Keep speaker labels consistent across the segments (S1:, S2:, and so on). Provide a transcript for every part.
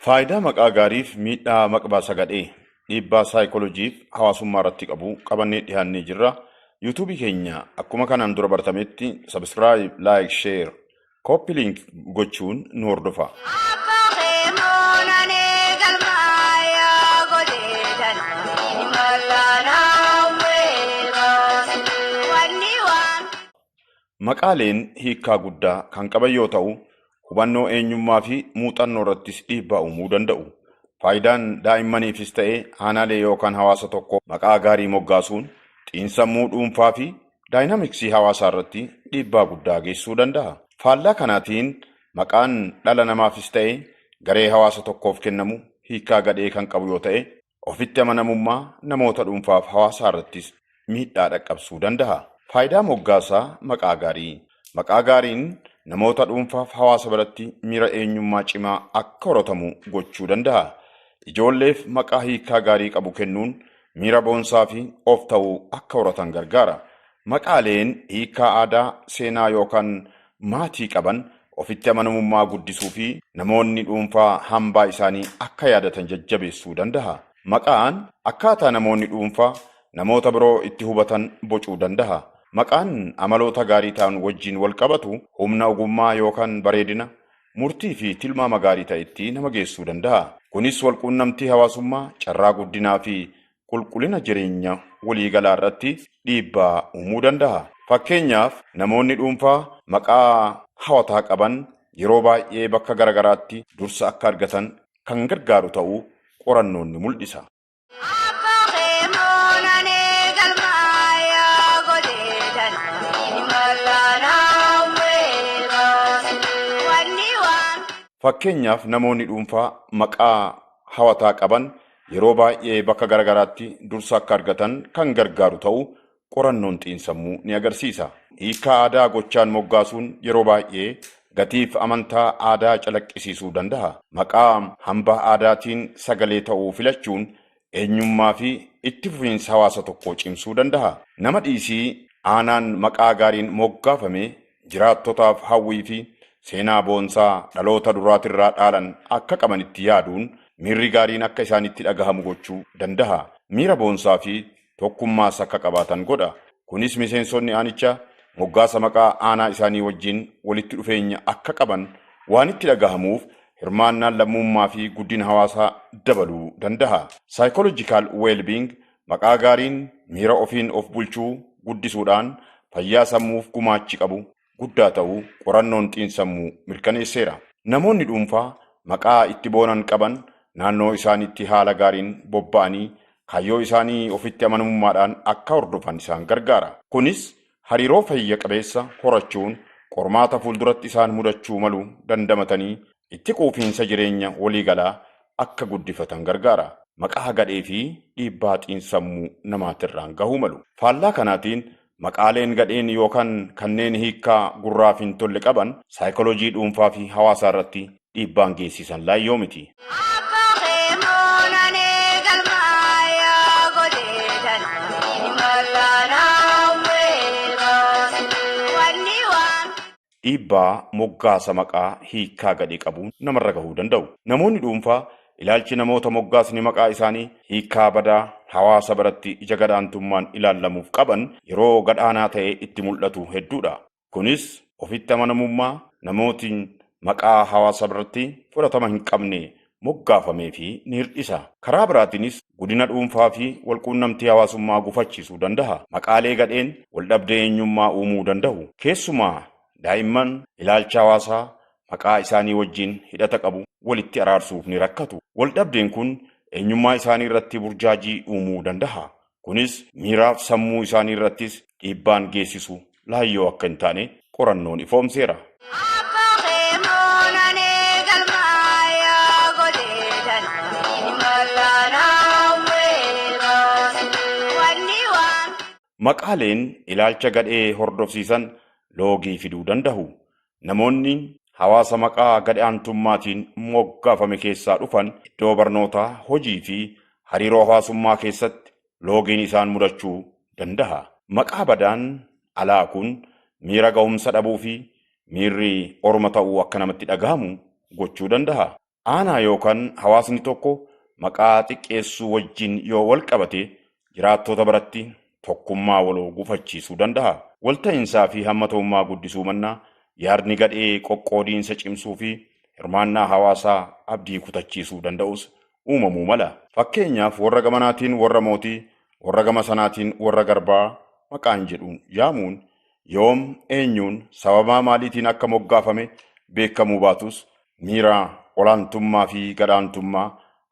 S1: Faayidaa maqaa gaariif miidhaa maqbaa sagadhee dhiibbaa saayikolojiif hawaasummaa irratti qabu qabannee dhiyaannee jirra. Yuutuubii keenya akkuma kanaan dura bartametti sabiskiraayib, laayik, sheer, kooppi liink gochuun nu hordofa. Abba kee moonanee galmaayaa godhee danaa imalaa naawwee baasii wanni waan. Maqaaleen hiikkaa guddaa kan qaban yoo ta'u, hubannoo eenyummaa fi muuxannoo irrattis dhiibbaa uumuu danda'u. Faayidaan daa'immaniifis ta'e aanaalee yookaan hawaasa tokkoo maqaa gaarii moggaasuun xiinsammuu dhuunfaa fi daayinaamiksii hawaasaa irratti dhiibbaa guddaa geessisuu danda'a. Faallaa kanaatiin maqaan dhala namaafis ta'e garee hawaasa tokkoof kennamu hiikkaa gadhee kan qabu yoo ta'e, Ofitti amanamummaa namoota dhuunfaaf hawaasaa irrattis miidhaa dhaqqabsuu danda'a. Faayidaa moggaasaa maqaa gaarii. Maqaa gaariin namoota dhuunfaaf hawaasa biratti miira eenyummaa cimaa akka horatamu gochuu danda'a. Ijoolleef maqaa hiikaa gaarii qabu kennuun miira boonsaa fi of ta'uu akka horatan gargaara. Maqaaleen hiikkaa aadaa, seenaa yookaan maatii qaban ofitti amanamummaa guddisuu fi namoonni dhuunfaa hambaa isaanii akka yaadatan jajjabeessuu danda'a. Maqaan akkaataa namoonni dhuunfaa namoota biroo itti hubatan bocuu danda'a. Maqaan amaloota gaarii ta'an wajjin wal qabatu humna ogummaa yookaan bareedina, murtii fi tilmaama gaarii ta'etti nama geessuu danda'a. Kunis walquunnamtii hawaasummaa, carraa guddinaa fi qulqullina jireenya waliigalaa irratti dhiibbaa uumuu danda'a. Fakkeenyaaf, namoonni dhuunfaa maqaa hawataa qaban yeroo baay'ee bakka garagaraatti dursa akka argatan kan gargaaru ta'uu qorannoon ni mul'isa. Fakkeenyaaf, namoonni dhuunfaa maqaa hawataa qaban Yeroo baay'ee bakka gara garaatti dursa akka argatan kan gargaaru ta'uu qorannoon xiinsammuu ni agarsiisa. Hiikkaa aadaa gochaan moggaasuun yeroo baay'ee gatiif amantaa aadaa calaqqisiisuu danda'a. Maqaa hambaa aadaatiin sagalee ta'uu filachuun eenyummaafi itti fufiinsa hawaasa tokkoo cimsuu danda'a. Nama dhiisii aanaan maqaa gaariin moggaafame jiraattotaaf hawwii fi seenaa boonsaa dhaloota duraatirraa dhaalan akka qabanitti yaaduun miirri gaariin akka isaanitti dhagahamu gochuu dandaha. Miira boonsaa fi tokkummaas akka qabaatan godha. Kunis miseensonni aanicha moggaasa maqaa aanaa isaanii wajjin walitti dhufeenya akka qaban waan itti dhagahamuuf hirmaannaan lammuummaa fi guddina hawaasaa dabaluu dandaha. Psychological Wellbeing Maqaa gaariin miira ofiin of bulchuu guddisuudhaan fayyaa sammuuf gumaachi qabu guddaa ta'uu qorannoon xiinsammuu mirkaneesseera. Namoonni dhuunfaa maqaa itti boonan qaban naannoo isaaniitti haala gaariin bobba'anii kaayyoo isaanii ofitti amanamummaadhaan akka hordofan isaan gargaara. Kunis hariiroo fayya qabeessa horachuun qormaata fuulduratti isaan mudachuu malu dandamatanii itti quufiinsa jireenya waliigalaa akka guddifatan gargaara. Maqaa gadhee fi dhiibbaa xiinsammuu namaatirraan gahuu malu. Faallaa kanaatiin, maqaaleen gadheen yookaan kanneen hiikkaa gurraaf hin tolle qaban saayikooloojii dhuunfaa fi hawaasaarratti dhiibbaan geessisan laayyoo miti. Dhiibbaa moggaasa maqaa hiikkaa gadhee qabuun namarra gahuu danda'u. Namoonni dhuunfaa ilaalchi namoota moggaasni maqaa isaanii hiikkaa badaa hawaasa biratti ija gad-aantummaan ilaallamuuf qaban yeroo gad-aanaa ta'ee itti mul'atu hedduudha. Kunis ofitti amanamummaa namootiin maqaa hawaasa biratti fudhatama hin qabne moggaafameefi ni hir'isa. Karaa biraatiinis gudina dhuunfaafi walquunnamtii hawaasummaa gufachiisuu dandaha. Maqaalee gadheen waldhabdee eenyummaa uumuu dandahu. Keessumaa daa'imman ilaalcha hawaasaa maqaa isaanii wajjin hidhata qabu walitti araarsuuf ni rakkatu. Waldhabdeen kun eenyummaa isaanii irratti burjaajii uumuu dandaha. Kunis miiraaf sammuu isaanii irrattis dhiibbaan geessisu laayyoo akka hin taane qorannoon ifoomseera. Maqaaleen ilaalcha gadhee hordofsiisan loogii fiduu dandahu. Namoonni hawaasa maqaa gad aantummaatiin moggaafame keessaa dhufan iddoo barnootaa, hojii fi hariiroo hawaasummaa keessatti loogiin isaan mudachuu danda'a. Maqaa badaan alaa kun miira gahumsa dhabuu fi miirri orma ta'uu akka namatti dhagahamu gochuu danda'a. Aanaa yookan hawaasni tokko maqaa xiqqeessuu wajjin yoo walqabate jiraattoota biratti tokkummaa waloo gufachiisuu danda'a. Walta'insaa fi hammata'ummaa guddisuu mannaa yaadni gadhee qoqqoodiinsa cimsuu fi hirmaannaa hawaasaa abdii kutachiisuu danda'us uumamuu mala. Fakkeenyaaf warra gamanaatiin warra mootii, warra gama sanaatiin warra garbaa maqaan jedhuun yaamuun yoom eenyuun sababaa maaliitiin akka moggaafame beekamuu baatus miira olaantummaa fi gadaantummaa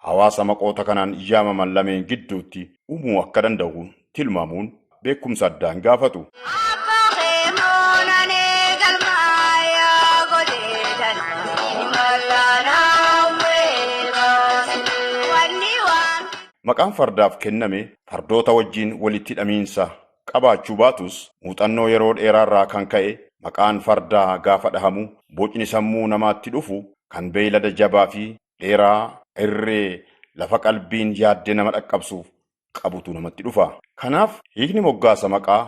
S1: hawaasa maqoota kanaan yaamaman lameen gidduutti uumuu akka danda'u tilmaamuun beekumsa addaa hin gaafatu. Maqaan fardaaf kenname fardoota wajjin walitti hidhamiinsa qabaachuu baatus muuxannoo yeroo dheeraarraa kan ka'e maqaan fardaa gaafa dhahamu bocni sammuu namaatti dhufu kan beeylada jabaafi dheeraa irree lafa qalbiin yaadde nama dhaqqabsu qabutu namatti dhufa. Kanaaf hiikni moggaasa maqaa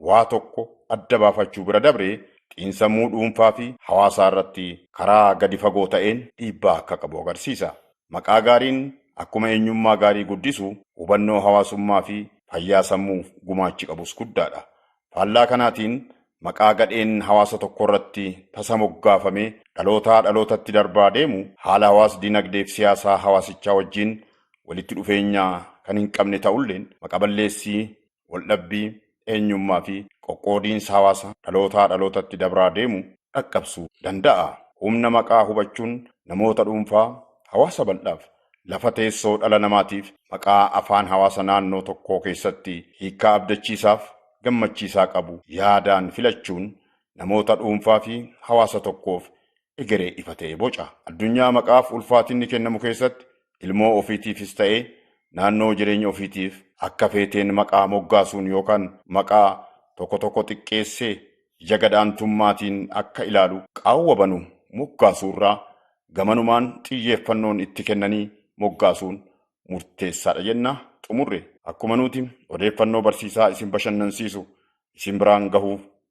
S1: waa tokko adda baafachuu bira dabree xiinsammuu dhuunfaafi hawaasaarratti karaa gadi fagoo ta'een dhiibbaa akka qabu agarsiisa. Maqaa gaariin akkuma eenyummaa gaarii guddisu, hubannoo hawaasummaafi fayyaa sammuuf gumaachi qabus guddaadha. Faallaa kanaatiin, maqaa gadheen hawaasa tokkoorratti tasa moggaafamee dhalootaa dhalootatti darbaa deemu haala hawaas-dinagdeefi siyaasaa hawaasichaa wajjin walitti dhufeenya kan hinqabne ta'ulleen, maqa-balleessii waldhabbii, eenyummaa fi qoqqoodiinsa hawaasa dhalootaa dhalootatti dabraa deemu dhaqqabsuu danda'a. Humna maqaa hubachuun namoota dhuunfaa, hawaasa bal'aaf, lafa teessoo dhala namaatiif maqaa afaan hawaasa naannoo tokkoo keessatti hiikkaa abdachiisaaf gammachiisaa qabu yaadaan filachuun namoota dhuunfaa fi hawaasa tokkoof egeree ifa ta'e boca. Addunyaa maqaaf ulfaatinni kennamu keessatti ilmoo ofiitiifis ta'ee naannoo jireenya ofiitiif akka feeteen maqaa moggaasuun yookaan maqaa tokko tokko xiqqeessee ija gad-aantummaatiin akka ilaalu qaawwa banu moggaasuurraa gamanumaan xiyyeeffannoon itti kennanii moggaasuun murteessaadha jenna. Xumurre. Akkuma nuti odeeffannoo barsiisaa isin bashannansiisu isin biraan gahuuf